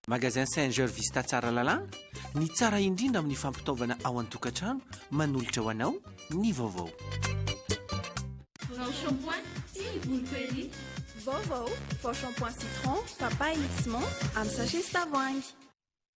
Magasin Saint George Vista Tsaralalana, ny tsara indrindra amin'ny fampitaovana ao an-tokantrano, manolotra ho anao ny vaovao. Vao shampoing sy ny volo query. Vaovao, vao shampoing citron, papaye sy menthe amin'ny sachet sy tavoahangy.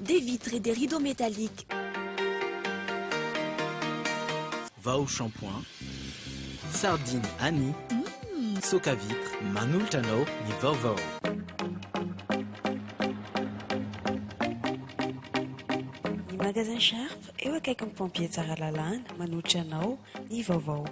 Des vitres et des rideaux métalliques. Vao shampoing, sardine Annie, soka vitre, manolotra anao ny vaovao. Ny Magasin Sharp, eo akaikin'ny Pompiers Tsaralalana, manolotra anao ny vaovao.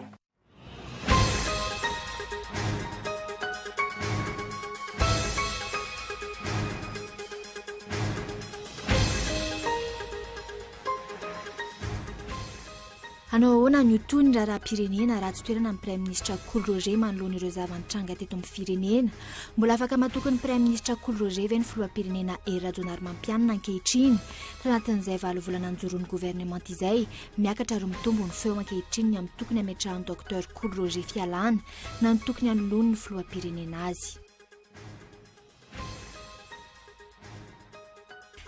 Hanao ahoana ny ho toy ny raharaham-pirenena raha tsy toerana ny Praiminisitra Kolo Roger manoloana ireo zava-nitranga teto amin'ny firenena? Mbola afaka matoky ny Praiminisitra Kolo Roger ve ny Filoham-pirenena Hery Rajaonarimampianina ankehitriny tanatin'izay valo volana nijoron'ny governemanta izay Miakatra ary mitombo ny feo ankehitriny ny amin'ny tokony hametrahan'i Docteur Kolo Roger Fialana na ny tokony hanoloany ny filoham-pirenena azy.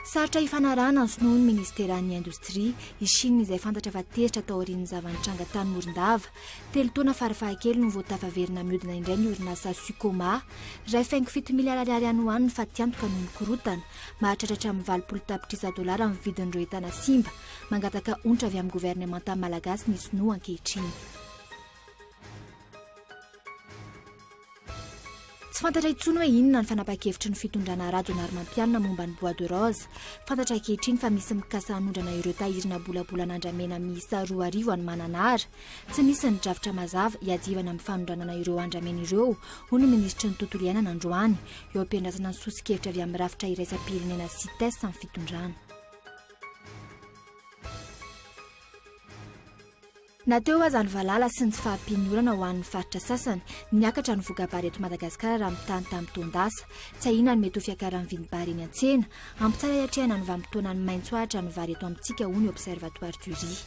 Sarotra hifanarahana ny finoan'ny Ministeran'ny Indostria i Shina izay fantatra fa tezitra tao aorian'ny zava-nitranga tany Morondava. Telo taona fara-fahakely no vao tafaverina mihodina indray ny orinasa Sucoma. Iray faingo fito miliara ariary any ho any ny fatiantoka noho ny korotana. Mahatratra hatramin'ny valopolo tapitrisa dolara ny vidin'ireo entana simba. Mangataka onitra avy amin'ny governemanta malagasy ny sinoa ankehitriny. Tsy fantatra intsony hoe inona ny fanapahan-kevitry ny fitondrana Rajaonarimampianina momba ny bois de rose. Fantatra ankehitriny fa misy mikasa hanondrana ireo tahirinà bolabolan'andramena miisa roa arivo any Mananara. Tsy misy ny drafitra mazava hiadiavana amin'ny fanondranana ireo andramena ireo, hoy ny minisitry ny Tontolo iainana androany, eo am-piandrasana ny soso-kevitra avy amin'ny rafitra iraisam-pirenena Cites amin'ny fitondrana. Na teo aza ny valala sy ny tsy fahampian'ny orana ho an'ny faritra sasany, niakatra ny voka-bary eto Madagasikara raha mitaha ny tamin'ny taon-dasa. Tsy ahiana ny mety ho fiakaran'ny vidim-bary eny an-tsena. Ampitsara hiatrehana ny vanim-potoanan'ny maitso ahitra ny vary eto amintsika, hoy ny Observatoire du riz.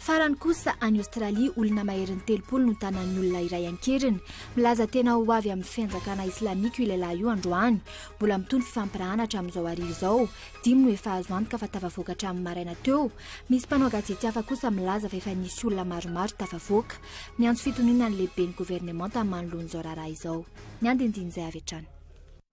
Farany kosa, any Aostralia, olona maherin'ny telopolo no tanan'ny olona iray an-keriny. Milaza tena ho avy amin'ny fianjakana islamika io lehilahy io androany. Mbola mitohy ny fifampirahana hatramin'izao hariva izao. Dimy no efa azo antoka fa tafavoaka hatramin'ny maraina teo. Misy mpanao gazety hafa kosa milaza fa efa nisy olona maromaro tafavoaka. Miantso fitoniana ny lehiben'ny governemanta manoloana izao raharaha izao. Ny andinindin'izay avy hatrany.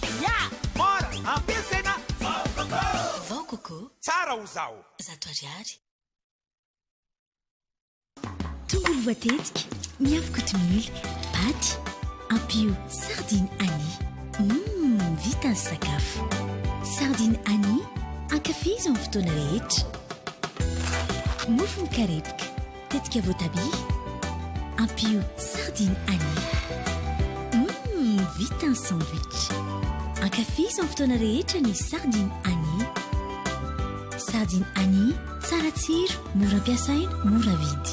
Pia, mora, ampiasaina, vao coco. Vao coco. Tsara ho zaho. Zato ariary. Tongolo voatetika, miavo kotomila, paty, ampio sardine Annie. Mmm, vita ny sakafo. Sardine Annie, ankafizo amin'ny fotoana rehetra. Mofo mikarepoka. Tetika voatabia, ampio sardine anis. Hum, vita ny sandwich. Ankafizo amin'ny fotoana rehetra ny sardine anis. Sardine anis, tsara tsiro, mora ampiasaina, mora vidy.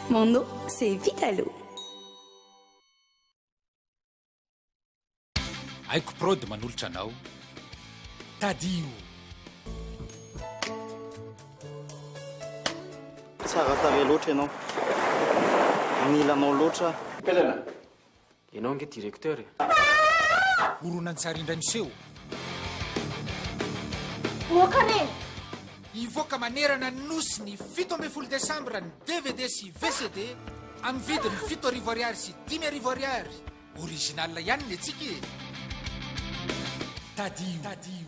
Mon no c'est vitalo. Aiko prod manolotra anao Tadio. Tsara tarehy loatra ianao. Nilanao loatra. Pelana. Ianao ange directeur e. Horonantsary indray miseho. Moka re! Hivoaka manerana ny Nosy ny fito ambin'ny folo desambra ny dvd sy VCD amin'ny vidiny fito arivo ariary sy dimy arivo ariary. Original ihany ny antsika e! Tadidio.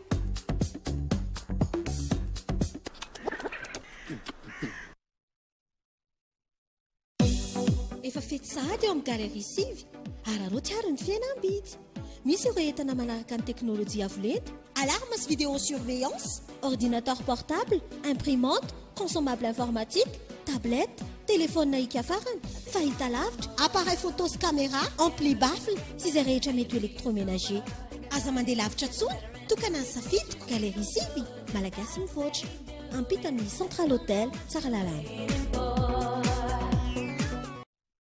Efa fety sahady ao amin'ny Galerie Sivy. Araraoty àry ny fihenam-bidy. Misy ireo entana manaraka ny teknolojia avo lenta, alarme sy vidéo surveillance, ordinateur portable, imprimante, Consommable informatique, tablette, telefaonina hiaka farany, fahita lavitra, appareil photo sy caméra, ampli, baffle sy izay rehetra mety ho électroménager. Aza mandeha lavitra intsony, tokana ny safidiko, galerie sivy, Malagasy mivoatra. Ampita amin'ny Central Hotel, Tsaralalana.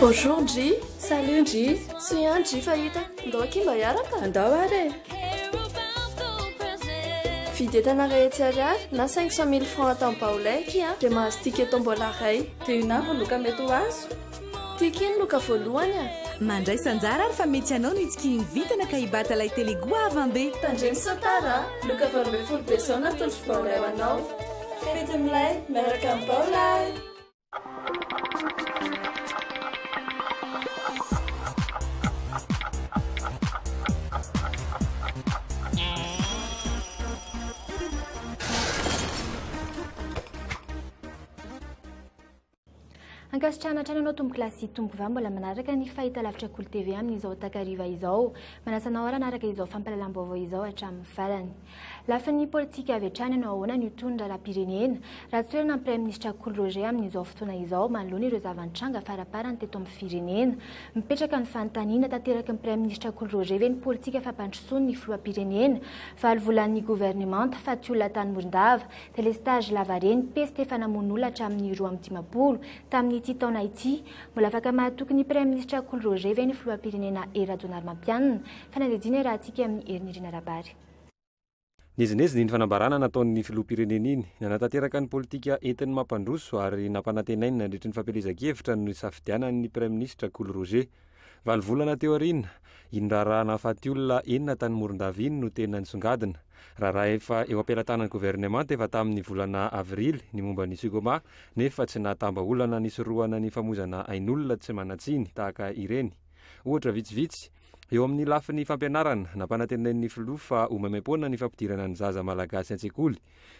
Bonjour Ndry, salut Ndry, soa ihany Ndry fa hita, ndao akia mba hiaraka? Andao ary e! Vidy entana rehetra ariary na cinq cent mille francs atao am-baolay akia dia mahazo ticket tombola iray. Dia inona avy no loka mety ho azo? Tiako iny loka voalohany a! Mandraisa anjara ary fa mety ianao no hitsikihin'ny vintana ka hibata ilay Telugu havanbe. Tandremo sao tara a! Loka valo ambin'ny folo be zao natolotro baolay ho anao. Fety milay miaraka amin'ny baolay! Ankasitrahana hatrany anao Tompo Kilasy sy Tompo Vava mbola manaraka ny fahitalavitra Kolo TV amin'izao takariva izao. Manasa anao ary hanaraka izao fampahalalam-baovao izao hatramin'ny farany. Lafiny politika avy hatrany anao ahoana ny ho toy ny raharaham-pirenena? Ratsoherina ny Praiminisitra Kolo Roger amin'izao fotoana izao manoloana ireo zava-nitranga faraparany teto amin'ny firenena. Mipetraka ny fanontaniana tanteraky ny Praiminisitra Kolo Roger ve ny politika fampandrosoan'ny Filoham-pirenena valo volan'ny governemanta fa tsy olona tany Morondava Delestage lavareny, peste efa namono olona hatramin'ny roa amby dimampolo tamin'ity taona ity. Mbola afaka mahatoky ny Praiminisitra Kolo Roger ve ny Filoham-pirenena Hery Rajaonarimampianina? Fanadihadiana iarahantsika amin'i Hery Nirina Rabary. Niezinezina iny fanambarana nataon'ny Filoham-pirenena iny. Nanatanteraka ny politika entiny mampandroso ary nampanantenainy nandritry ny fampielezan-kevitra ny nisafidianany ny Praiminisitra Kolo Roger. Valo volana teo aoriana, iny raharaha nahafaty olona enina tany Morondava iny no tena nisongadina. Raharaha efa eo am-pelatanan'ny governemanta efa tamin'ny volana avrily ny momba ny Sugoma, nefa tsy nahatambaolana nisorohana ny famoizana ain'olona tsy manan-tsiny tahaka ireny. Ohatra vitsivitsy, Eo amin'ny lafiny fampianarana, nampanantenain'ny filoha fa ho maimaim-poana ny fampidirana ny zaza malagasy an-tsekoly.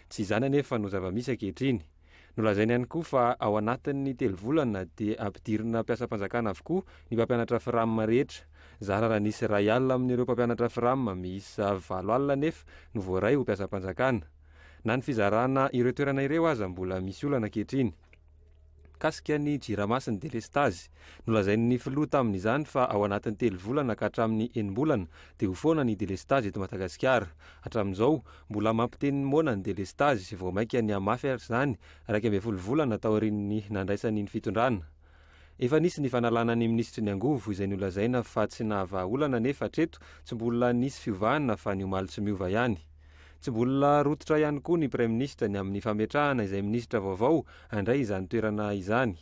Tsy izany anefa no zava-misy ankehitriny. Nolazainy ihany koa fa ao anatin'ny telo volana dia ampidirina mpiasam-panjakana avokoa ny mpampianatra Fram rehetra. Zara raha nisy iray alina amin'ireo mpampianatra Fram miisa valo alina anefa no voaray ho mpiasam-panjakana. Na ny fizarana ireo toerana ireo aza mbola misy olana ankehitriny. Mikasika ny Jirama-sy ny delestazy, nolazain'ny filoha tamin'izany fa ao anatin'ny telo volana ka hatramin'ny enim-bolana dia ho foana ny delestazy eto Madagasikara. Hatramin'izao, Mbola mampiteny ny moana ny delestazy, vao mainka nihamafy ary izany, iraika ambin'ny folo volana taorian'ny nandraisany ny fitondrana. Efa nisy ny fanalana ny minisitry ny angovo, izay nolazaina fa tsy nahavaha olana anefa hatreto tsy mbola nisy fiovana fa ny omaly tsy miova ihany. Tsy mbola rototra ihany koa ny praiminisitra ny amin'ny fametrahana izay minisitra vaovao handray izany toerana izany.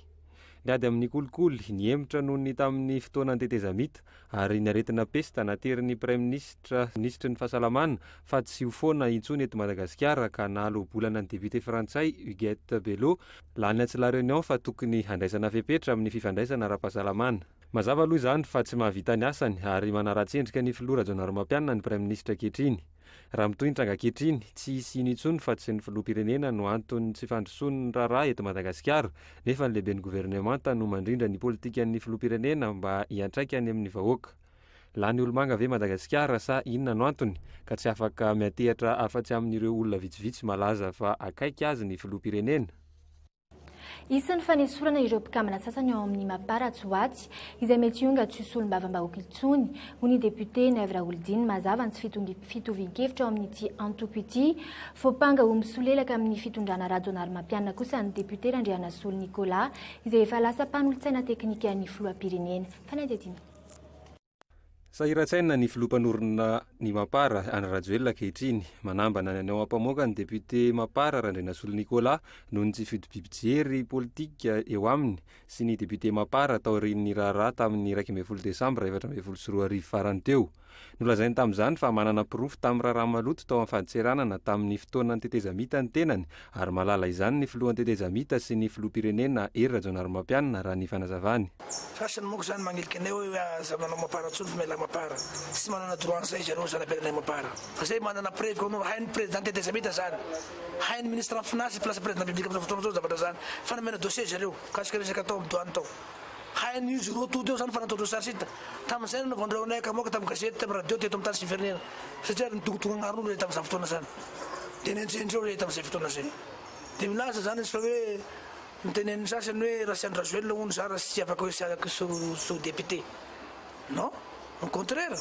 Niady amin'ny kolikoly, nihemotra noho ny tamin'ny fotoanan'ny tetezamita, ary ny aretina pesta, naterin'ny Praiminisitra sy Minisitry ny Fahasalamana fa tsy ho foana intsony eto Madagasikara ka nahaloa-bolana ny depiote frantsay Huguette Bello, lany atsy La Réunion fa tokony handraisana fepetra amin'ny fifandraisana ara-pahasalamana. Mazava aloha izany fa tsy mahavita ny asany ary manaratsy endrika ny filoha Rajaonarimampianina ny Praiminisitra ankehitriny. Raha mitohy ny tranga ankehitriny, tsy hisy hino intsony fa tsy ny filoham-pirenena no anton'ny tsy fandrosoan'ny raharaha eto Madagasikara, nefa ny lehiben'ny governemanta no mandrindra ny politikan'ny filoham-pirenena mba hiantraika any amin'ny vahoaka. Lany olomanga ve Madagasikara sa inona no antony ka tsy afaka miantehatra afa-tsy amin'ireo olona vitsivitsy malaza fa akaiky azy ny filoham-pirenena? Isan'ny fanesorana ireo mpikambana sasany ao amin'ny Mapa Ratsoatsy, izay mety hionga tsy ho solombavambahoaka intsony, hoy ny depiote Naivo Raholidiny mazava ny tsy fitovian-kevitra ao amin'ity antoko ity. Voampanga ho misolelaka amin'ny fitondrana Rajaonarimampianina kosa ny depiote Randrianasolo Nicolas, izay efa lasa mpanolotsaina teknikan'ny filoham-pirenena. Fanadihadiana. Sahiran-tsaina ny filoha mpanorina ny Mapar, Andry Rajoelina ankehitriny. Manambana ny any ao Ampamoaka ny depiote Mapar, Randrianasolo Nicolas, noho ny tsy fitobiam-pijery politika eo aminy sy ny depiote Mapar taorian'ny raharaha tamin'ny iraika ambin'ny folo desambra efatra ambin'ny folo sy roa arivo farany teo. Nolazainy tamin'izany fa manana porofo tamin'ny raharaha maloto tao amin'ny fadintseranana tamin'ny fotoanan'ny tetezamita ny tenany Ary mahalala izany ny filohan'ny tetezamita sy ny filoham-pirenena Hery Rajaonarimampianina raha ny fanazavany. Farceny manko zany magnilika anay oe aza manao mapara tsony fa mialà mapara tsy manana droit an'izay izy anao zana pirenenay mapara fa zay manana preuve anao hain'ny president tetezamita zany hain'ny ministran finasy place president public amizao fotoana zao zavatra zany fanamena dossier zareo mikasika resaka tao am douane tao Hain'izy ireo toa teo izany fa nataon'ireo sarsita tamin'izay no nanaovan'ireo anay akamoaka tamin'ny gazety, tamin'ny radio, teto amin'ny tany sy ny firenena satria ary nidongodongo agnarn'olona ilay tamin'izany fotoana izany. Dia nenjehin-dreo ilay tamin'izay fotoana izay. Dia milaza izany izy fa hoe notenenin'ny sasany hoe raha tsy an'i Rajoelina hono izaho raha tsy afaka hoe sy afaka sy ho député. Non, au contraire!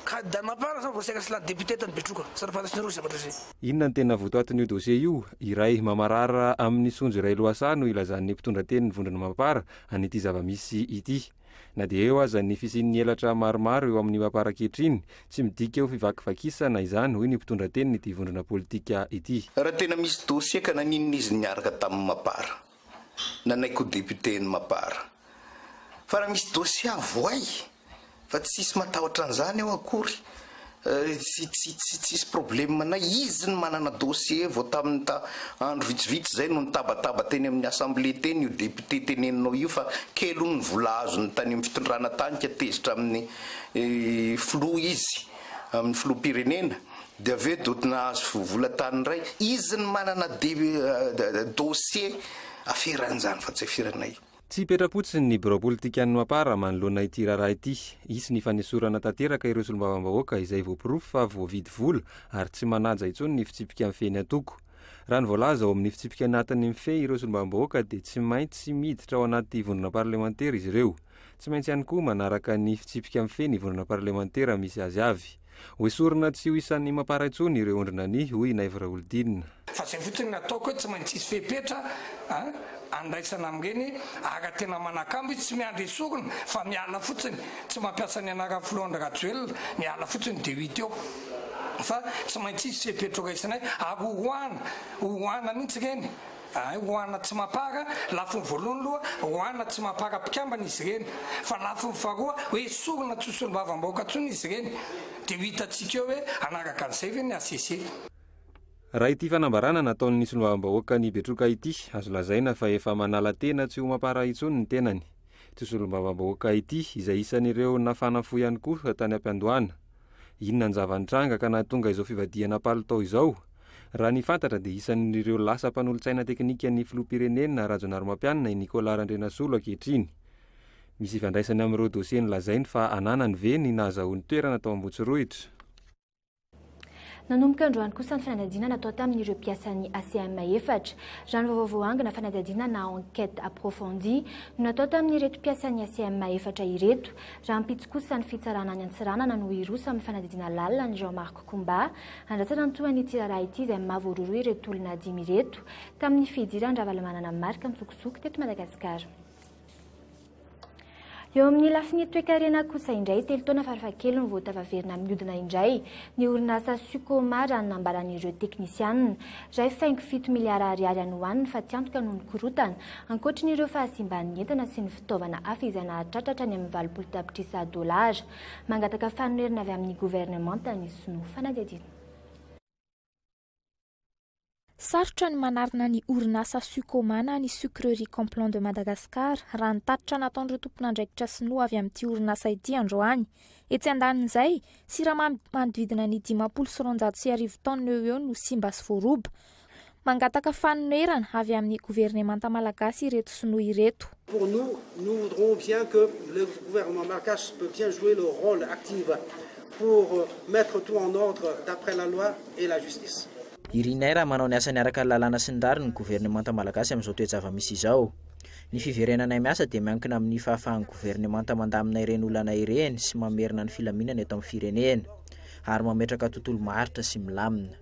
Ka dame à part zany vao saika cela député tany Betroka, sady fantatr'nareo zavatra zay. Inona no tena votoatin'io dossier io? Iray mamarara amin'ny sonjo iray lohasaha no ilazan'ny mpitondra tenin'ny vondrona Mapar an'ity zava-misy ity. Na dia eo aza ny fisian'ny elatra maromaro eo amin'ny Mapar ankehitriny, tsy midika ho fivakivakisana izany, hoy ny mpitondra tenin'ity vondrona politika ity. Raha tena misy dossier ka naninona izy niaraka tamin'ny Mapar? Nanaiky ho député ny Mapar. Fa raha misy dossier avohay fa tsisy matahotra an'izany ao akory, tsisy problème anay, izy no manana dossier vao tamin'ny ta andro vitsivitsy izay no nitabataba teny amin'ny assemblée teny io député teneninao io fa kely hono ny vola azony tany amin'ny fitondrana tany ka tezitra amin'ny filoha izy, amin'ny filoham-pirenena. Dia avy eo doty nahazo vola tany indray izy ny manana dossier aferan'izany fa tsy aferanay. Tsy hipetra-potsiny ny birao politikan'ny Mapar manoloana ity raharaha ity. Hisy ny fanesorana tanteraka ireo solombavambahoaka izay voaporofo fa voavidy vola ary tsy manaja intsony ny fitsipika mifehy ny antoko. Raha ny voalaza ao amin'ny fitsipika anatiny mifehy ireo solombavambahoaka dia tsy maintsy miditra ao anaty vondrona parlemantera izy ireo. Tsy maintsy ihany koa manaraka ny fitsipika mifehy ny vondrona parlemantera misy azy avy. Ho esorina tsy ho isan'ny mampara intsony ireo ondrina ny, hoy i Naivo Raholidinina. Fa izay fotsiny no ataoko hoe tsy maintsy hisy fepetra andraisana amin'ireny ary tena manakambo izy, tsy miandry esorina fa miala fotsiny, tsy mampiasa ny anaran'ny filoha Andry Rajoelina, miala fotsiny dia ho hita eo fa tsy maintsy hisy fepetra ho raisinay ary horoahana, horoahana mihitsy ireny. Hay ho ana tsy mapara lafiny voalohany loha ho ana tsy mapara mpikambana izy ireny fa lafiny faharoa hoe sorona tsy ho solombavamb aoka tsony izy ireny dia ho hitantsika eo hoe hanaraka an'izay ve ny HCC. Raha ity fanambarana nataon'ny solombavambahoakan'i Betroka ity, azo lazaina fa efa manala tena tsy ho mapara intsony ny tenany. Ity solombavambahoaka ity, izay isan'ireo nafana fo ihany koa tany am-piandohana. Inona ny zava-nitranga ka nahatonga izao fivadihana palitao izao? Raha ny fantatra dia isan'ireo lasa mpanolotsaina teknikan'ny filoham-pirenena Rajaonarimampianina i Nicolas Randrianasolo ankehitriny. Misy ifandraisany amin'ireo dosie nolazainy fa ananany ve ny nahazahoany toerana tao Ambohitsirohitra? Nanomboka androany kosa ny fanadihadiana natao tamin'ireo mpiasan'ny ACM efatra. Raha ny vaovao voaangona, fanadihadiana na enquête approfondie no natao tamin'ireto mpiasan'ny ACM efatra ireto. Rahampitso kosa ny fitsarana any Antsiranana no hiroso amin'ny fanadihadiana lalina an'i Jean Marc ko mba handrasana ny tohany ity raharaha ity izay mavororo ireto olona dimy ireto tamin'ny fidiran-dRavalomanana Marc an-tsokosoko teto Madagasikara. Eo amin'ny lafiny toekarena kosa indray, telo taona farafahakeliny vao tafaverina mihodina indray ny orinasa Sucoma raha ny nambaran'ireo teknisianina. Iray faingo fito miliara ariary any ho any ny fatiantoka noho ny korotana, ankoatrin'ireo fahasimban'ny entana sy ny fitaovana hafa izay nahatratra hatrany amin'ny valopolo tapitrisa dolara. Mangataka fanonerana avy amin'ny governemanta ny sinoa. Fanadihadiana. Sarotra ny manarina ny orinasa Sucoma na ny Sucrerie Complan de Madagascar, raha ny tatitra nataon'ireo tompon'andraikitra sinoa avy amin'ity orinasa ity androany. Etsy andanin'izay, siramamy manodidina ny dimampolo sy roanjato sy arivo tonnes eo ho eo no simba sy voaroba. Mangataka fanonerana avy amin'ny governemanta malagasy ireto sinoa ireto. Pour nous, nous voudrons bien que le gouvernement malgache peut bien jouer le role active pour mettre tout en ordre d'après la loi et la justice. Irinay raha manao ny asany araka ny lalàna sy ny rariny ny governemanta malagasy amin'izao toe-java-misy izao. Ny fiverenanay miasa dia miankina amin'ny fahafahan'ny governemanta mandamina ireny olana ireny sy mamerina ny filaminana eto amin'ny firenena ary mametraka tontolo maharitra sy milamina.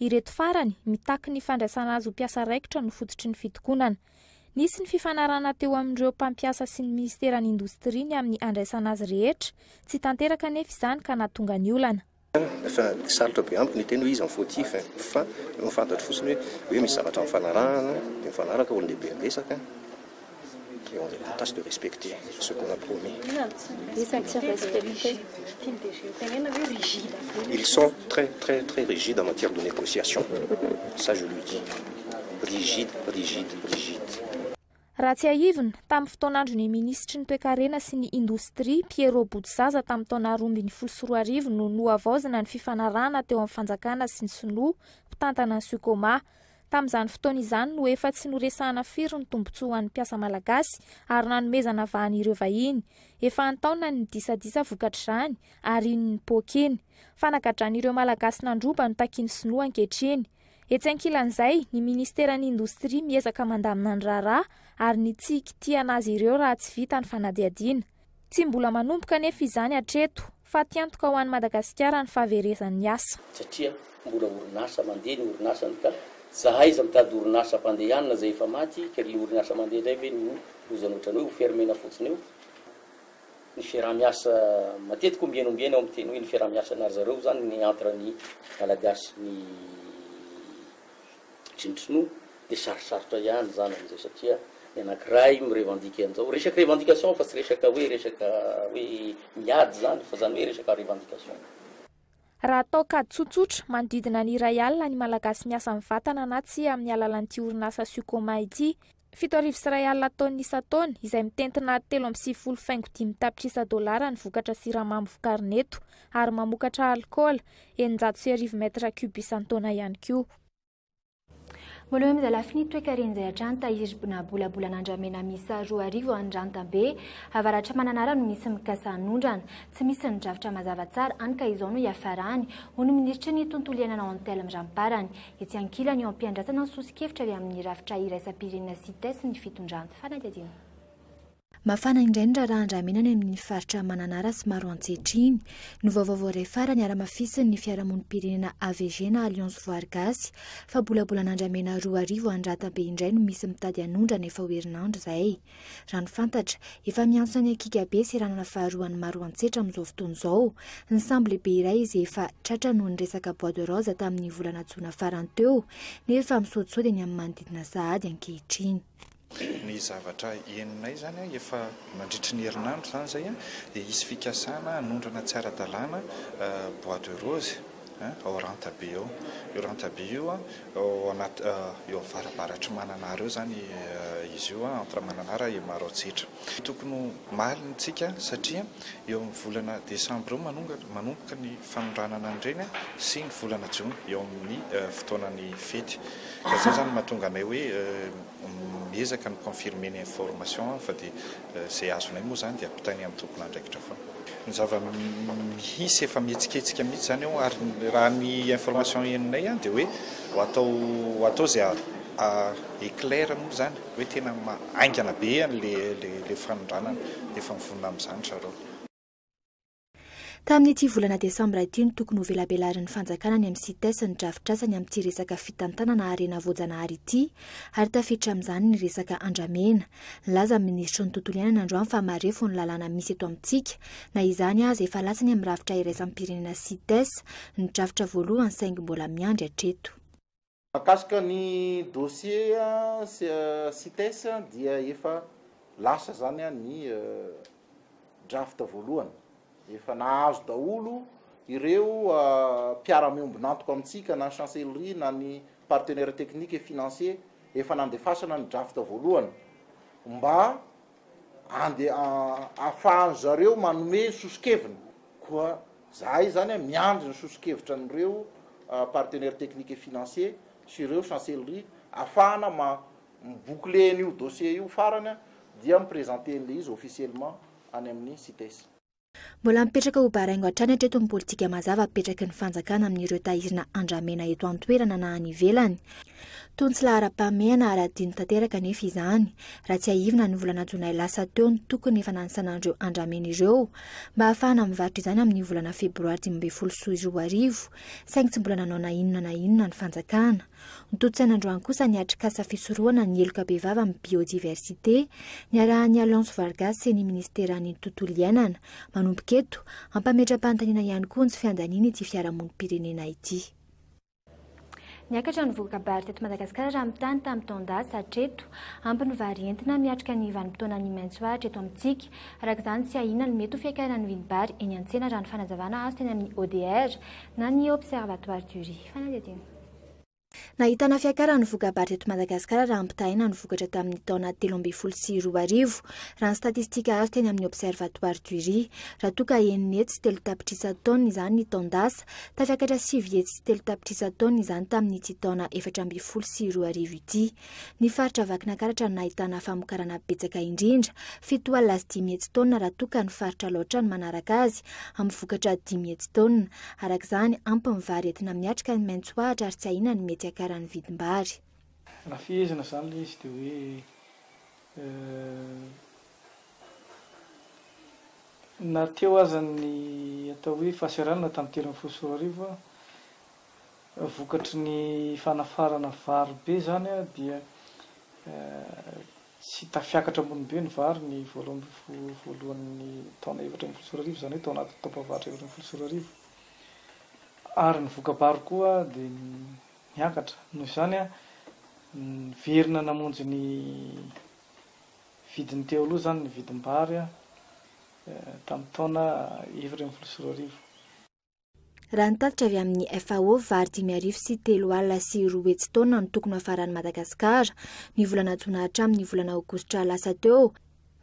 Ireto farany, mitaky ny fandraisana azy ho mpiasa raikitra no fototry ny fitokonana. Nisy ny fifanarahana teo amin'ireo mpampiasa sy ny Minisiteran'ny Indostria ny amin'ny handraisana azy rehetra. Tsy tanteraka anefa izany ka nahatonga ny olana. Efa sarotra be amiko ny hiteny hoe iza ny fautif e! Fa ny fantatro fotsiny hoe misy zavatra mifanarahana dia mifanaraka olon-dehibe miresaka. qui ont la tâche de respecter ce qu'on a promis. Ils sont très très très rigides en matière de négociation, ça je le dis, rigides, rigides, rigides. Raha tsiahivina, tamin'ny fotoan'andron'ny minisitry ny Toekarena sy ny Indostria, Pierrot Botozaza tamin'ny taona roa ambin'ny folo sy roa arivo no nohavaozina ny fifanarahana teo amin'ny fanjakana sy ny sinoa mpitantana ny Sucoma. Tamin'izany fotoana izany no efa tsy noresahana firy ny tombontsoa ho an'ny mpiasa malagasy ary nanomezana vahana ireo vahiny. Efa an-taonany ny disadisa vokatr'izany ary iny ny poaka iny. Fanagadran'ireo Malagasy nandroba no takian'ny sinoa ankehitriny. Etsy ankilan'izay, ny ministeran'ny indostria miezaka mandamina ny raharaha ary ny tsy hikitihana azy ireo raha tsy vita ny fanadihadiana. Tsy mbola manomboka anefa izany hatreto. Fatiantoka ho an'i Madagasikara ny fahaverezan'ny asa. Satria mbola orinasa mandeha ny orinasany ka za aiza mitady orinasa hampandehanina zay efa maty kely ny orinasa mandeha indray ve no lozany otrany hoe ho fermena fotsiny eo ny fiaraha miasa matetika ombieny ombieny aho miteny hoe ny fiaraha miasa na ry zareo zany ny entre ny malagasy ny Tsinontsinoa dia sarosarotra ihany izany amin'izao satria ny anankiray mi-revendiquer an'izao, resaka revendication fa tsy resaka hoe resaka hoe miady izany fa izany hoe resaka revendication. Raha atao kajy tsotsotra, manodidina ny iray alina ny Malagasy miasa mivantana na tsia amin'ny alalan'ity orinasa Sucoma ity. Fito arivo sy iray alina taonina isan-taona, izay mitentina telo amby sivifolo faingo dimy tapitrisa dolara ny vokatra siramamy vokarina eto, ary mamokatra alikaola, eninjato sy arivo mètre cube isan-taona ihany koa. Mbola eo amin'izay lafiny ity toekaren'izay hatrany, tahiry bnabolabolan'andramena miisa roa arivo ao Andrantabe, avaratra Mananara no misy mikasa hanondrana. Tsy misy ny drafitra mazava tsara, hany ka izao no hiafarany, hoy ny minisitry ny tontolo iainana Antelme Ramparany. Etsy ankilany, eo am-piandrasana ny soso-kevitra avy amin'ny rafitra iraisam-pirenena Cites ny fitondran'ny fanadihadiana. Mafana indray ny raharahan-dramena any amin'ny faritra Mananara sy Maro ankehitriny. Novaovao vao iray farany ara-mafisin'ny fiarahamonim-pirenena AVG na Alliance Voary Gasy fa bolabolan'andramena roa arivo any Ratabe indray no misy mitady hanondrana efa ho herinandro izay. Raha ny fantatra, efa miantso an'i Akika be seranana faharoan'ny Maroantsetra amin'izao fotoana izao. Ny sambo lehibe iray izay efa tratra noho ny resaka bois de rose tamin'ny volana jona farany teo, nefa misaodisaody eny amin'ny manodidina sahady ankehitriny. Ny zavatra henonay izany efa mandritry ny herinandro izany izay dia hisy fikasana hanondrana tsy ara-dalàna bois de rose. ao Rantabe ao. Io Rantabe io an, ao anaty, eo avarabaratr'i Mananara eo izany izy io an, entre Mananara et Maroantsetra. Tokony ho malina isika satria eo amin'ny volana desambra eo manongatra, manomboka ny fanondranana an'ireny sy ny volana jona eo amin'ny fotoanan'ny fety. Ka izay izany no mahatonga anay hoe miezaka ny confirmer ny information fa dia Izay azonay moa izany dia ampitainy amin'ny tompon'andraikitra foana. Ny zava-misy efa mihetsiketsika mihitsy izany ao ary raha ny information henonay dia hoe ho atao ho atao izay éclaire moa izany hoe tena haingana be an'ilay ilay fanondranana dia efa mivonona amin'izany zareo. Tamin'ity volana desambra ity no tokony hovelabelarin'ny fanjakana any amin'ny Cites ny drafitrasany amin'ity resaka fitantanana harena voajanahary ity ary tafiditra amin'izany ny resaka andramena. Nilaza ny minisitry ny tontolo iainana androany fa marefo ny lalàna misy eto amintsika. Na izany aza, efa latsany amin'ny rafitra iraisam-pirenena Cites ny drafitra voalohany saingy mbola miandry hatreto. Mahakasika ny dossier Cites dia efa lasa izany ny draft voalohany. Efa nahazo daholo ireo mpiara-miombon'antoka amintsika na ny Chancellerie na ny partenaires techniques et financiers, efa nandefasana ny draft voalohany mba andeha ahafahan zareo manome soso-keviny, koa zahay zany miandry ny soso-kevitra an'ireo partenaires techniques et financiers sy ireo chancellerie afahana ma mi-boucler an'io dossier io farany dia mi-presenter an'ilay izy officiellement any amin'ny CITES. Mbola mipetraka ho baraingo hatrany hatreto ny politika mazava apetraky ny fanjakana amin'ireo tairina andramena eto an-toerana na any ivelany. Toa ny tsy laharam-pahamehana ary adino tanteraka anefa izany, raha tsiahivina ny volana jolay lasa teo ny tokony efa nanisana an'ireo andramena ireo mba hahafahana mivarotra izany amin'ny volana febroary dimy ambin'ny folo sy roa arivo, saingy tsy mbola nanao na inona na inona ny fanjakana. Notontosaina androany kosa ny atrikasa fisorohana ny heloka bevava amin'ny biodiversite, niarahan'ny Alliance Vargas sy ny Ministeran'ny Tontolo iainana. Manomboka eto, hampametra-panontaniana ihany koa ny tsy fiandaniana ity fiarahamonim-pirenena ity. Niakatra ny voka-bary teto Madagasikara raha mitany tamin'ny taon-dasa hatreto. Ampy ny vary entina miatrika ny vanim-potoanan'ny maitso ahitra eto amintsika. Araka izany, tsy ahiana ny mety ho fiakaran'ny vidim-bary eny an-tsena raha ny fanazavana azo teny amin'ny ODR na ny Observatoire du riz. Fanadihadiana. Nahitana fiakaran'ny voka-baritra eto Madagasikara raha ampitahaina ny vokatra tamin'ny taona telo ambin'ny folo sy roa arivo, raha ny statistika azo teny amin'ny Observatoire du riz. Raha toa ka enina hetsy sy telo tapitrisa taonina izany ny taon-dasa, tafakatra sivy hetsy sy telo tapitrisa taonina izany tamin'ity taona efatra ambin'ny folo sy roa arivo ity. Ny faritra Vakinankaratra no nahitana famokarana betsaka indrindra, fito alina sy dimy hetsy taonina raha toa ka ny faritra Alaotra no manaraka azy amin'ny vokatra dimy hetsy taonina. Araka izany, ampy ny vary entina miatrika ny maitso ahitra ary tsy ahiana ny mety hiakaran'ny vidim-bary. Raha fehezina izany ilay izy dia hoe na teo aza ny atao hoe fahasahiranana tamin'ny telo ambin'ny folo sy roa arivo, vokatry ny fanafarana vary be izany dia tsy tafiakatra ambony be ny vary ny voalohany ambin'ny folo voalohan'ny taona efatra ambin'ny folo sy roa arivo, izany hoe tao anatin'ny taom-pahavaratra efatra ambin'ny folo sy roa arivo, ary ny voka-bary koa dia niakatra. Noho izany, niverina namonjy ny vidiny teo aloha izany ny vidim-bary tamin'ny taona efatra ambin'ny folo sy roa arivo. Raha ny tatitra avy amin'ny FAO, vary dimy arivo sy telo alina sy roa hetsy taona no tokony ho hafaran'i Madagasikara. Ny volana jona hatramin'ny volana aogositra lasa teo,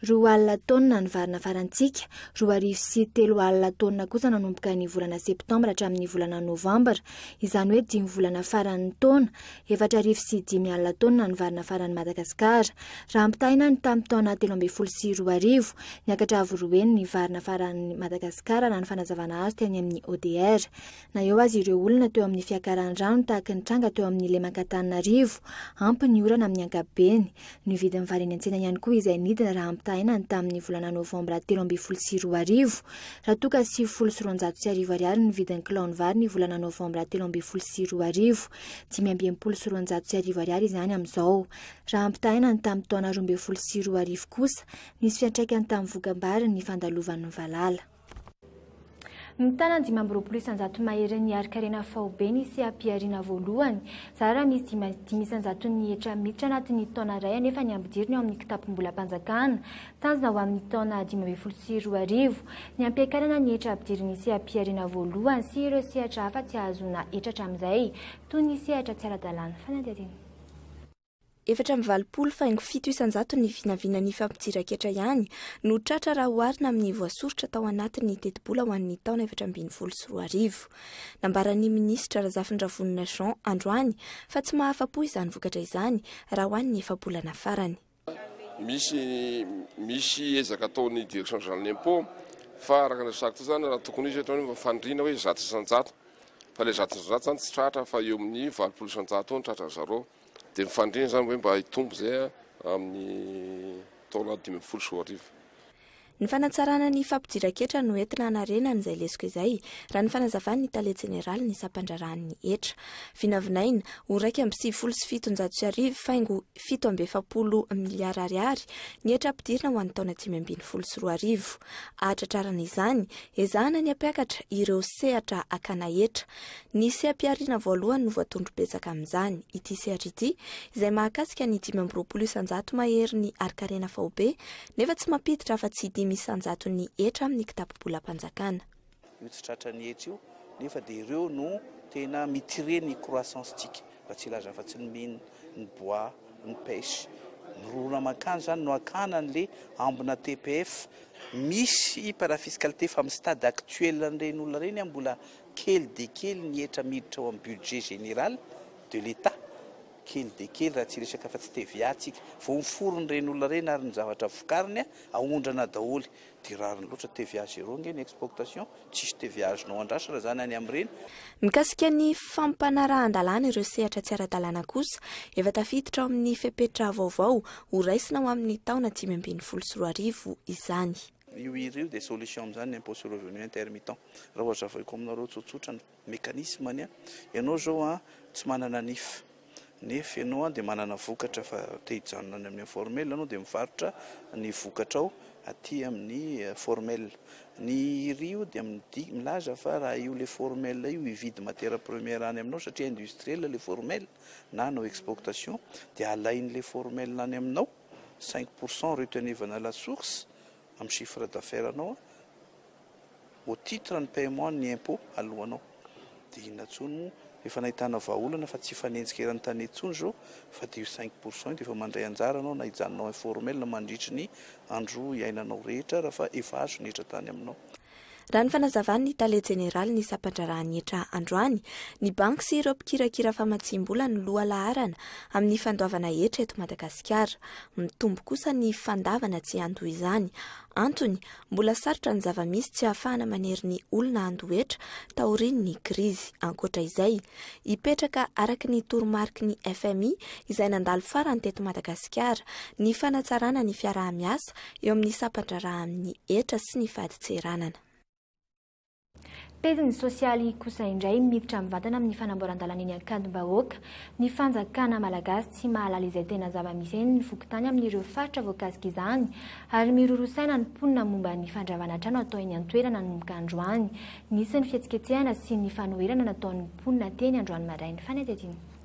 roa alina taona ny vary nafarantsika, roa arivo sy telo alina taona kosa nanomboka ny volana septambra hatramin'ny volana novambra, izany hoe dimy volana faran'ny taona, efatra arivo sy dimy alina taonina ny vary nafaran'i Madagasikara. Raha ampitahaina ny tamin'ny taona telo ambin'ny folo sy roa arivo, niakatra avo roa heny ny vary nafaran'i Madagasikara raha ny fanazavana azo teny amin'ny ODR. Na eo aza ireo olana teo amin'ny fiakaran'ny rano tahaka ny tranga teo amin'ny lemak'Antananarivo, ampy ny orana amin'ny ankapobeny. Nividy ny vary eny an-tsena ihany koa izay nidina raha ampitahaina ny tamin'ny volana novambra telo ambin'ny folo sy roa arivo. Raha toa ka sivifolo sy roanjato sy arivo ariary ny vidin'ny kilaon'ny vary ny volana novambra telo ambin'ny folo sy roa arivo, dimy amby enimpolo sy roanjato sy arivo ariary izany amin'izao. Raha ampitahaina ny tamin'ny taona roa ambin'ny folo sy roa arivo kosa, nisy fiantraikany tamin'ny vokambary ny fandalovan'ny valala. Mitana dimy amby roapolo isanjato mahery ny harin-karena faobe ny seha-pihariana voalohany. Zara raha misy dimy dimy isanjaton'ny hetra miditra anatin'ny taona iray anefa ny ambodiriny ao amin'ny kitapom-bolam-panjakana. Tazana ho amin'ny taona dimy ambin'ny folo sy roa arivo, ny hampiakarana ny hetra ampidirin'ny seha-pihariana voalohany sy ireo sehatra hafa tsy ahazoana hetra hatramin'izay, toy ny sehatra tsy ara-dalàn'ny fanadihadiana. Efatra amby valopolo faingo fito isan-jato ny vinavinan'ny fampidiran-ketra ihany no tratra raha oharina amin'ny voasoritra tao anatin'ny tetibola ho an'ny taona efatra ambin'ny folo sy roa arivo. Nambaran'ny minisitra Razafindrahvonona Jean androany fa tsy mahafa-po izany vokatra izany raha ho an'ny efa-bolana farany. Misy misy ezaka ataon'ny Direction Générale de l'Impôt fa araka ny resahako teo izany raha tokony hisy hatreto hoe faniriana hoe zato isan-jato fa ilay zato isan-jato izany tsy tratra fa eo amin'ny valopolo isan-jato eo ny tratran'ny zareo dia ny faniriana izany hoe mba hitombo izay amin'ny taona dimy ambin'ny folo sy roa arivo. Ny fanatsarana ny fampidiran-ketra no entina hanarenana izay lesoka izay, raha ny fanazavan'ny tale jeneralin'ny sampandraharahan'ny hetra. Vinavinaina, ho iraika amby sivifolo sy fitonjato sy arivo, faingo fito amby efapolo miliara ariary, ny hetra hampidirina ho an'ny taona dimy ambin'ny folo sy roa arivo. Hahatratrarana izany, ezahana ny hampiakatra ireo sehatra hakana hetra. Ny seha-pihariana voalohany no voatondro betsaka amin'izany, ity sehatra ity, izay mahakasika ny dimy amby roapolo isan-jato maherin'ny harinkarena faobe Nefa tsy mampiditra afa-tsy dimy isan-jaton'ny hetra amin'ny kitapo-bolam-panjakana. Io tsy tratra ny hetra io, nefa dia ireo no tena mi-tirer ny croissance-ntsika, raha tsy hilaza afa-tsy ny mines, ny bois, ny pêche. Mirorona mankany izany no hakana an'ilay ambina TPF. Misy parafiscalité fa amin'ny stade actuel an'ireny olona ireny, mbola kely dia kely ny hetra miditra ao amin'ny budget général de l'Etat. Kely dia kely raha tsy resaka fa tsy TVA tsika. Vao miforon ny reny olona reny ary ny zavatra vokariny a aondrana daholy. Dia rariny loatra TVA zero nge ny expoctation. Tsisy TVA azonao andrasana zany any am reny. Mikasika ny fampanarahan-dalàna ireo sehatra tsy ara-dalàna kosa, efa tafiditra ao amin'ny fepetra vaovao ho raisina ho amin'ny taona dimy ambin'ny folo sy roa arivo izany. Io hira io dia solution amin'izany ny impôt sur revenu intermittent. Raha ho hazavaiko aminareo tsotsotra ny. Mécanisme ny an! Ianao izao an tsy manana nif nef ianao an dia manana vokatra fa te hijanona any amin'ny informel ianao dia mivarotra ny vokatrao aty amin'ny formel. Ny iri io dia midik milaza fa raha io le formel io hividy matière première any aminao satria industriel le formel na hanao expoctation dia alain'le formel any aminao cinq pourcent retenue vana la source amin'ny chiffre d'affaires nao an! au titre ny paiement ny impôt alohanao dia inona tsony moa efa nahitana vahaolana fa tsy hifanenjika eran'ny tane tsony zao fa dia io cinq pour cent io dia efa mandray anjara anao na hijanonao informel na mandritry ny andro hiainanao rehetra raha fa efa azo ny hetra tany aminao. Raha ny fanazavan'ny tale jeneralin'ny sampandraharahan'ny hetra androany, ny banky sy ireo mpikirakira famatsiam-bola no loha laharana amin'ny fandoavana hetra eto Madagasikara. Mitombo kosa ny fandavana tsy hiantoha izany Antony, mbola sarotra ny zava-misy tsy ahafahana manery ny olona handoa hetra taorian'ny krizy. Ankoatra izay, hipetraka araka ny toromariky ny fmi izay nandalo farany teto Madagasikara, ny fanatsarana ny fiaraha-miasa eo amin'ny sampan-draharaha amin'ny hetra sy ny fadintseranana. Pejiny sosialy kosa indray miditra mivantana amin'ny fanamboaran-dalana eny Ankadimbahoaka. Ny fanjakana malagasy tsy mahalala izay tena zava-misy eny ny fokontany amin'ireo faritra voakasika izany ary miroro saina ny mponina momba ny fandravana trano atao eny an-toerana nanomboka androany. Nisy ny fihetsiketsehana sy ny fanoherana nataon'ny mponina teny androany maraina. Fanadihadiana.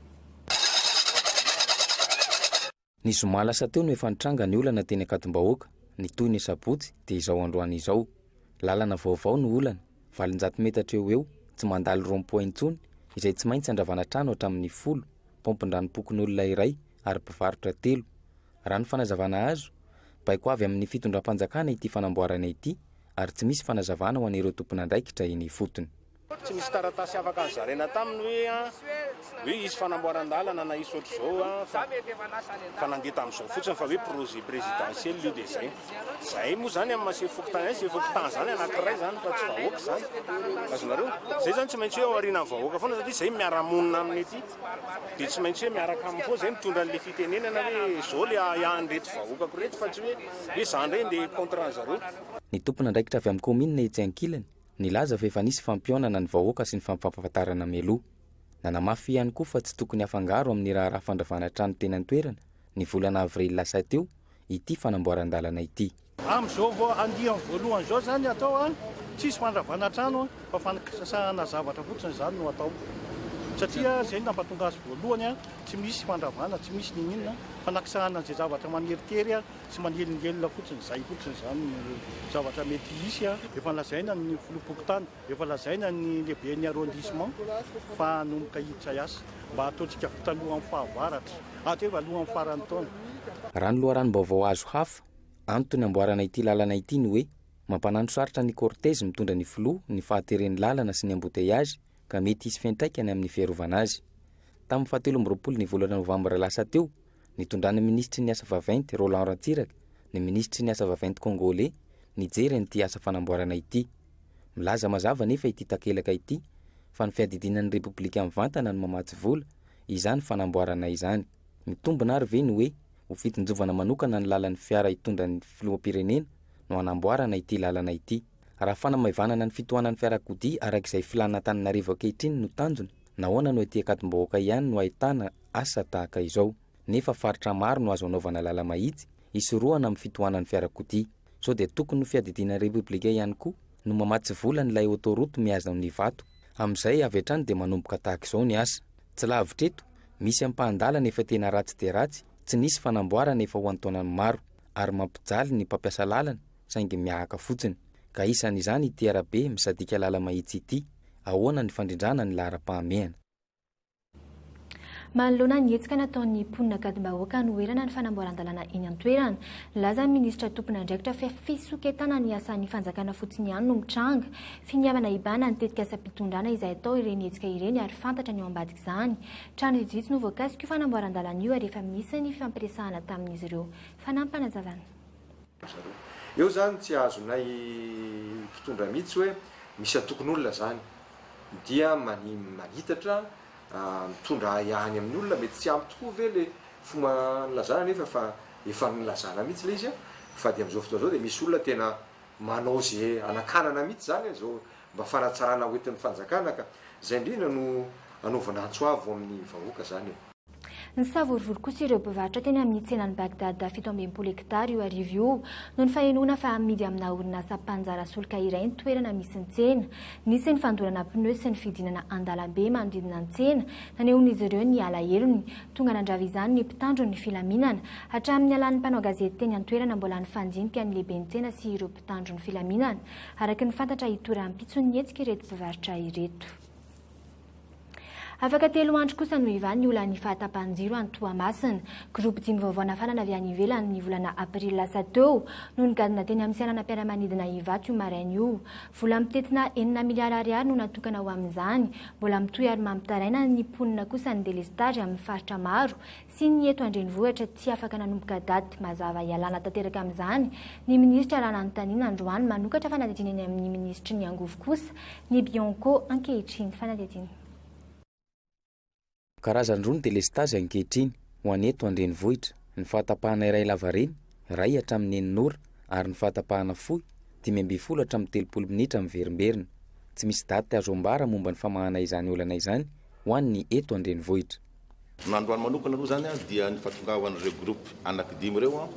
Ny zoma lasa teo no efa nitranga ny olana teny Ankadimbahoaka, ny toy ny sabotsy dia izao androany izao. Lalana vaovao no olana, valonjato metatra eo ho eo, tsy mandalo rond point intsony, izay tsy maintsy andravana trano hatramin'ny folo, paompin-dranom-pokonolona iray ary mpivarotra telo. Raha ny fanazavana azo, baiko avy amin'ny fitondram-panjakana ity fanamboarana ity ary tsy misy fanazavana ho an'ireo tompon'andraikitra eny ifotony. Tsy nisy taratasy afaka nozaraina taminy hoe hoe hisy fanamboaran-dalana na hisy ohatr'izao fa fa nandeha tamin'izao fotsiny fa hoe projet présidentiel io dia zay. Zahay moa zany amin'ny maha sefo fokontany ahy, sefo fokontany zany anankiray zany fa tsy vahoaka zany. Azonareo? Zay zany tsy maintsy hoe ao aorianan'ny vahoaka foana satria zay miara-monina aminy aty dia tsy maintsy hoe miaraka aminy foana zay mitondra an'ilay fitenenana hoe zao le ahiahin'ireto vahoakako ireto fa tsy hoe hoe za ndray ndeha contre an'zareo. Ny tompon'andraikitra avy amin'ny kaominina etsy ankilany Nilaza fa efa nisy fampihaonana ny vahoaka sy ny fampahafantarana mialoha. Nanamafy ihany koa fa tsy tokony hafangaro amin'ny raharaha fandravana trano teny an-toerana, ny volana avrily lasa teo, ity fanamboaran-dalana ity. Amin'izao vao andiany voalohany izao izany hatao an, tsisy fandravana trano an, fa fanisasahana zavatra fotsiny izany no hatao. Satria izay no nampatonga azy voalohany an, tsy misy fandravana, tsy misy n'inon'inona, fanakisahana an'izay zavatra maneritery an, Tsy manelingelina fotsiny izay fotsiny izany no zavatra mety hisy. Efa lazaina ny filoham-pokontany, efa lazaina ny lehiben'ny arrondissement fa hanomboka hiditra hiasa. Mba ataontsika vita alohan'ny fahavaratra, hatreto hoe alohan'ny faran'ny taona. Raha ny loharanom-baovao azo hafa, antony amboarana ity lalana ity ny hoe mampanano sarotra ny cortège mitondra ny filoha ny fahateren'ny lalana sy ny embouteillages ka mety hisy fiantraikany amin'ny fiarovana azy. Tamin'ny fahatelo amby roapolo ny volana novambra lasa teo Nitondran'ny minisitry ny Asa vaventy, Roland Ratsiraka, ny minisitry ny Asa vaventy Kongoley nijery an'ity asa fanamboarana ity. Milaza mazava anefa ity takelaka ity fa ny fiadidianan'ny Repoblika mivantana no mamatsy vola izany fanamboarana izany. Mitombina ary ve ny hoe ho fitsinjovana manokana ny lalan'ny fiara hitondra ny filoham-pirenena no hanamboarana ity lalana ity? Raha fanamaivanana ny fitohanan'ny fiarakodia araka izay filàna Antananarivo ankehitriny no tanjona, Nahoana no ety Ankadimbahoaka ihany no ahitana asa tahaka izao, nefa faritra maro no azo anaovana lala-mahitsy hisorohana amin'ny fitohanan'ny fiarakodia? Sao dia tokony ho fiadidiana ny Repoblika ihany koa no mamatsy vola ny ilay autoroute mihaza amin'ny vato? Amin'izay avy hatrany dia manomboka tahaka izao ny asa. Tsy lavitra eto, misy ampahan-dalana efa tena ratsy dia ratsy, tsy nisy fanamboarana efa ho an-taonany maro, ary mampijaly ny mpampiasa lalana, saingy miahaka fotsiny, ka isan'izany ity arabe misadika lala mahitsy ity. Ahoana ny fandrindrana ny laharam-pahamehana? Manoloana ny hetsika nataon'ny mponina ankadim-bahoaka hanoherana ny fanamboaran-dalàna eny an-toerana, nilaza ny minisitra tompon'andraikitra fa fisoketana ny asan'ny fanjakana fotsiny ihany no mitranga. Finiavana hibahana ny tetikasam-pitondrana izay atao ireny hetsika ireny ary fantatra ny ao ambadik'izany. Trano vitsivitsy no voakasik'io fanamboaran-dalàna io ary efa misy ny fifampiresahana tamin'izy ireo. Fanampin'Fanazavana. Eo zany tsy azonay mpitondra mitsy hoe misy antokon'olona zany dia manitatra mitondra ahiahiny amin'ny olona mety tsy ampy tokoa ve le fomba nilazana nefa fa efa nilazana mitsy le izy fa dia amizao fotoana zao dia misy olona tena manao ze anakanana mitsy zany zao mba fanatsarana hoentin'ny fanjakana ka zay indrindra no anaovana antso avo amin'ny vahoaka zany e. Nisavorovoro kosa ireo mpivarotra teny amin'ny tsenan'i Baghdad fito ambin'ny folo hekitara io arivo io, noho ny fahenoana fa hamidy amina orinasa mpanjara solika iray ny toerana misy ny tsena. Nisy ny fandorana pneu sy ny fidinana an-dalambe manodidina ny tsena, nanehoan'izy ireo ny alahelony. Tonga nandrava izany ny mpitandro ny filaminana. Hatramin'ny nialan'ny mpanao gazety teny an-toerana, mbola nifandinika ny lehiben'ny tsena sy ireo mpitandro ny filaminana. Araka ny fantatra, hitohy rahampitso ny hetsika ireto mpivarotra ireto. Afaka telo andro kosa no hivaha ny olan'ny fahatapahan-jiro any Toamasina. Groupe dimy vaovao nafarana avy any ivelany ny volana aprily lasa teo no nigadona teny amin'ny seranam-piaramanidina Ivato io maraina io. Vola mitentina enina miliara ariary no natokana ho amin'izany. Mbola mitohy ary mampitaraina ny mponina kosa ny delestazy amin'ny faritra maro sy ny eto an-drenivohitra tsy afaka nanomboka daty mazava hialana tanteraka amin'izany ny minisitra raha nanontaniana androany manokatra fanadihdiana eny amin'ny minisitry ny angovo kosa ny Bionco ankehitriny. Fanadihadiana. Karazany roa ny delestazy ankehitriny ho an'ny eto an-drenivohitra, ny fahatapahana iray lavareny, iray hatramin'ny enina ora, ary ny fahatapahana fohy, dimy ambin'ny folo hatramin'ny telopolo minitra miverimberina. Tsy misy daty azo ambara momba ny famahana izany olana izany ho an'ny eto an-drenivohitra. Ny androany manokana aloha izany dia ny fahatongavan'ireo groupe anaky dimy ireo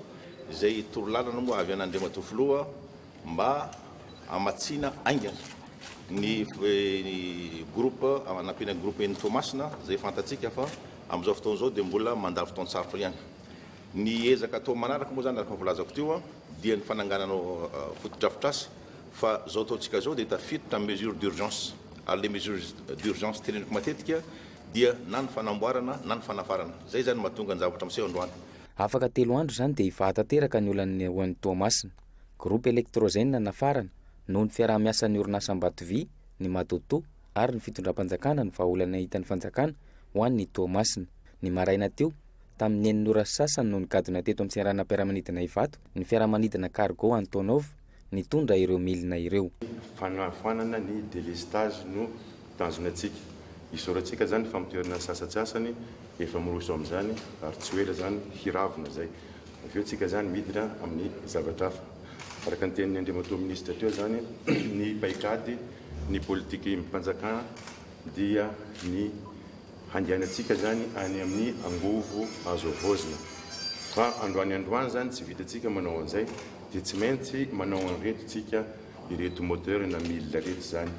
izay toro lalana moa avy an' Andriamatoa Filoha mba hamatsiana haingana ny groupe anampiana ny groupe eny Toamasina izay fantatsika fa amin'izao fotoana izao dia mbola mandà fotoan-tsarotra ihany. Ny ezaka atao manaraka moa izany araka ny voalazako teo dia ny fananganana fotodrafitrasa fa izao ataontsika izao dia tafiditra amin'ny mesure d'urgence ary ilay mesure d'urgence teneniko matetika dia na ny fanamboarana na ny fanafarana. Izay izany no mahatonga ny zavatra miseho androany. Afaka telo andro izany dia hivaha tanteraka ny olan'ny OM Toamasina. Groupe Electrogène no nafarana, noho ny fiaraha-miasan'ny orinasa Ambatovy, ny Madoto ary ny fitondram-panjakana ny vahaolana hitan'ny fanjakana ho an'ny Toamasina. Ny maraina teo, tamin'ny enina ora sy sasany no nigadona teto amin'ny seranam-piaramanidina Ivato ny fiaramanidina Cargo Antonov, nitondra ireo milina ireo. Fanafoanana ny delestazy no tanjona antsika. Isaorantsika izany ny famoterana ny sasantsasany efa miroso amin'izany ary tsy ho ela izany hiravona izay. Avy eo tsika izany midina amin'ny zavatra hafa. Araka ny tenin'ny Andriamatoa Minisitra teo izany, ny paik'ady, ny politik'im-panjakana dia ny Handehanantsika izany any amin'ny angovo azo havaozina. Fa androany androany izany tsy vitantsika manao an'izay dia tsy maintsy manao an'ireto isika, ireto moteur na mille ireto izany.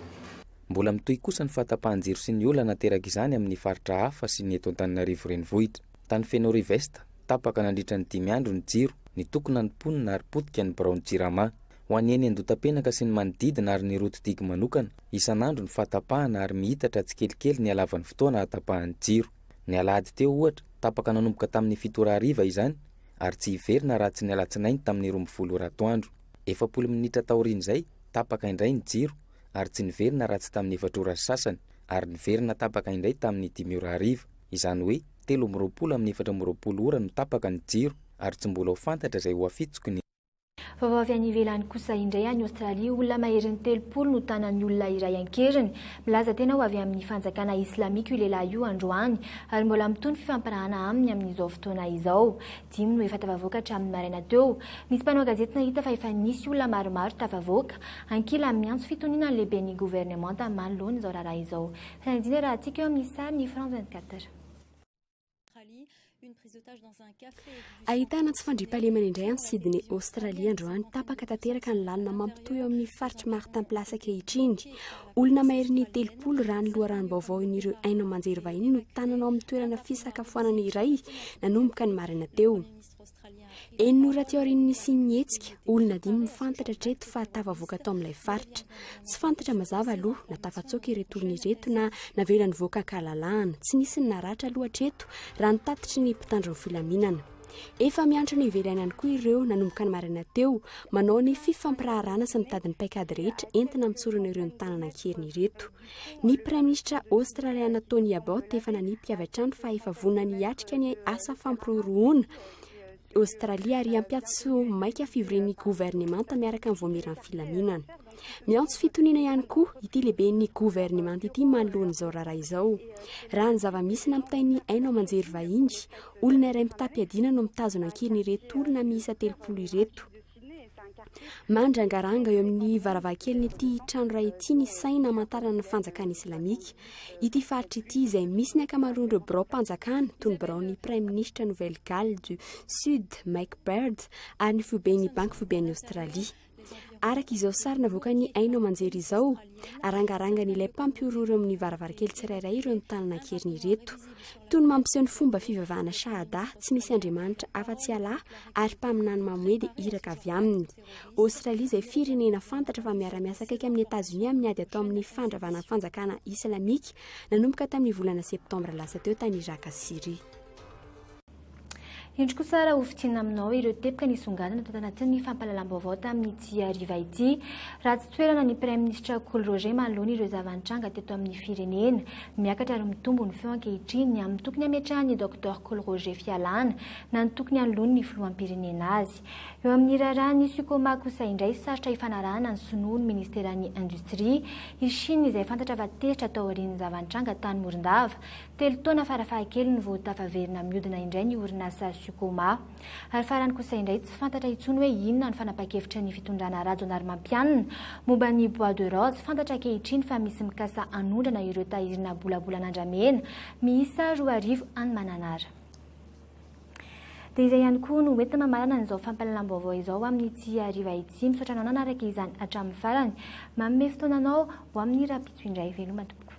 Mbola mitohy kosa ny fahatapahan-jiro sy ny olana aterak'izany amin'ny faritra hafa sy ny eto Antananarivo Renivohitra. Tany Fenorive Est, tapaka nandritra ny dimy andro ny jiro, nitokona ny mponina ary potika ny biraon'ny Jirama. Ho an'ny eny Andotapenaka sy ny manodidina ary ny route digue manokana, isan'andro ny fahatapahana ary mihitatra tsikelikely ny halavan'ny fotoana hahatapahan'ny jiro. Ny alahady teo, ohatra, tapaka nanomboka tamin'ny fito ora hariva izany ary tsy hiverina raha tsy ny alatsinainy tamin'ny roa ambin'ny folo ora atoandro. Efapolo minitra taorian'izay, tapaka indray ny jiro ary tsy niverina raha tsy tamin'ny efatra ora sy sasany ary niverina tapaka indray tamin'ny dimy ora hariva. Izany hoe, telo amby roapolo amin'ny efatra amby roapolo ora no tapaka ny jiro ary tsy mbola ho fantatra izay ho afitsoky ny. Vaovao avy any ivelany kosa indray any Aostralia, olona maherin'ny telopolo no tanan'ny olona iray an-keriny. Milaza tena ho avy amin'ny fanjakana islamika io lehilahy io androany ary mbola mitohy ny fifampirahana aminy amin'izao fotoana izao. Dimy no efa tafavoaka hatramin'ny maraina teo. Nisy mpanao gazety nahita fa efa nisy olona maromaro tafavoaka. Ankila, miantso fitoniana ny lehiben'ny governemanta manoloana izao raharaha izao. Fanadihadiana raha hatsika eo amin'ny sary ny France 24. Ahitana tsy fandriampahalemana indray any Sydney, Aostralia androany. Tapaka tanteraka ny lalana mampitohy eo amin'ny faritr'i Martin Place ankehitriny. Olona maherin'ny telopolo raha ny loharanom-baovao in'ireo haino aman-jery vahiny no tanana ao amin'ny toerana fisakafoanana iray nanomboka ny maraina teo. Enina ora aty aorian'ny nisian'ny hetsika, olona dimy no fantatra hatreto fa tafavoaka tao amin'ilay faritra. Tsy fantatra mazava aloha na tafatsoaka ireto olona ireto na navela nivoaka an-kalalahana. Tsy nisy ny naratra aloha hatreto raha ny tatitry ny mpitandro ny filaminana. Efa miantra ny ivelany ihany koa ireo nanomboka ny maraina teo manao ny fifampiraharana sy mitady ny paikady rehetra entina mitsorona ireo ny tanana an-keriny ireto. Ny Praiminisitra Aostraliana Tony Abbott efa nanipika avy hatrany fa efa vonona hiatrika ny asa fampirorohona Aostralia ary hampiato maika fivorian'ny governemanta miaraka amin'ny voamiran'ny filaminana. Miantso fitoniana ihany koa ity lehiben'ny governemanta ity manoloana izao raharaha izao. Raha ny zava-misy nampitain'ny haino aman-jery vahiny, olona iray mitam-piadiana no mitazona ankehitriny ireto olona miisa telopolo ireto. Mandrangaranga eo amin'ny varavarankelin'ity trano iray ity ny saina amantarana ny fanjakana islamika. Ity faritra ity izay misy ny ankamaroan'ireo biraom-panjakana toy ny biraon'ny praiminisitra Nouvelle Galles du Sud Mike Baird ary ny foiben'ny Banky Foiben'i Aostralia. Araka izao sary navoakan'ny haino aman-jery izao, arangarangan'ilay mpampihorohoro eo amin'ny varavarankely tsirairay ireo nitanana an-keriny ireto. Toy ny mampiseho ny fomba fivavahana Shahadah, tsy misy andriamanitra afa-tsy Allah, ary mpaminany mamoe dia iraka avy aminy. Aostralia izay firenena fantatra fa miara-miasa akaiky amin'i Etazonia amin'ny ady atao amin'ny fandravana ny fanjakana islamika nanomboka tamin'ny volana septambra lasa teo tany Iràka sy Syria. Indro kosa ary hofidiana aminao ireo teboka nisongadina tao anatin'ny fampahalalam-baovao tamin'ity hariva ity. Ratsy toerana ny Praiminisitra Kolo Roger manoloana ireo zava-nitranga teto amin'ny firenena. Miakatra ary mitombo ny feo ankehitriny ny amin'ny tokony hametrahan'ny Doctor Kolo Roger fialàna na ny tokony hanoloany ny filoham-pirenena azy. Eo amin'ny raharahan'ny Sucoma kosa indray sarotra hifanarahana ny sinoa ny Ministeran'ny Industria. I Chine izay fantatra fa tezitra taorian'ny zava-nitranga tany Morondava Telo taona farafahakeliny vao tafaverina mihodina indray ny orinasa Sucoma. Ary farany kosa indray tsy fantatra intsony hoe inona ny fanapan-kevitry ny fitondrana Rajaonarimampianina momba ny Bois de Rose. Fantatra ankehitriny fa misy mikasa hanondrana ireo tairina bolabolan'andramena miisa roa arivo any Mananara. Dia izay ihany koa no hoentina mamarana an'izao fampahalalam-baovao izao amin'ny tia hariva ity. Misaotra anao nanaraka izany hatramin'ny farany. Manome fotoana anao ho amin'ny rahampitso indray. Veloma tompoko.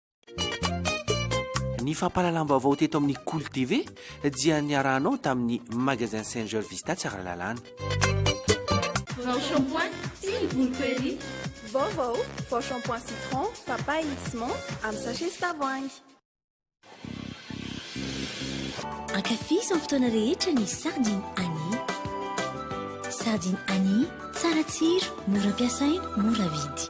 Ny fampahalalam-baovao teto amin'ny Kolo TV dia niarahanao tamin'ny Magasin Singer Vista Tsaralalàna. Vao shampoing sy ny volo query. Vaovao, vao shampoing citron, papaye mix menthe amin'ny sachet sy tavoahangy. Ankafizo amin'ny fotoana rehetra ny sardine Annie. Sardine Annie, tsara tsiro, mora ampiasaina, mora vidy.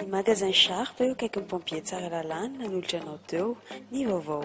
Ny magasin Sharp eo akaikin'ny pompier Tsaralalàna nanolotra anao teo ny vaovao.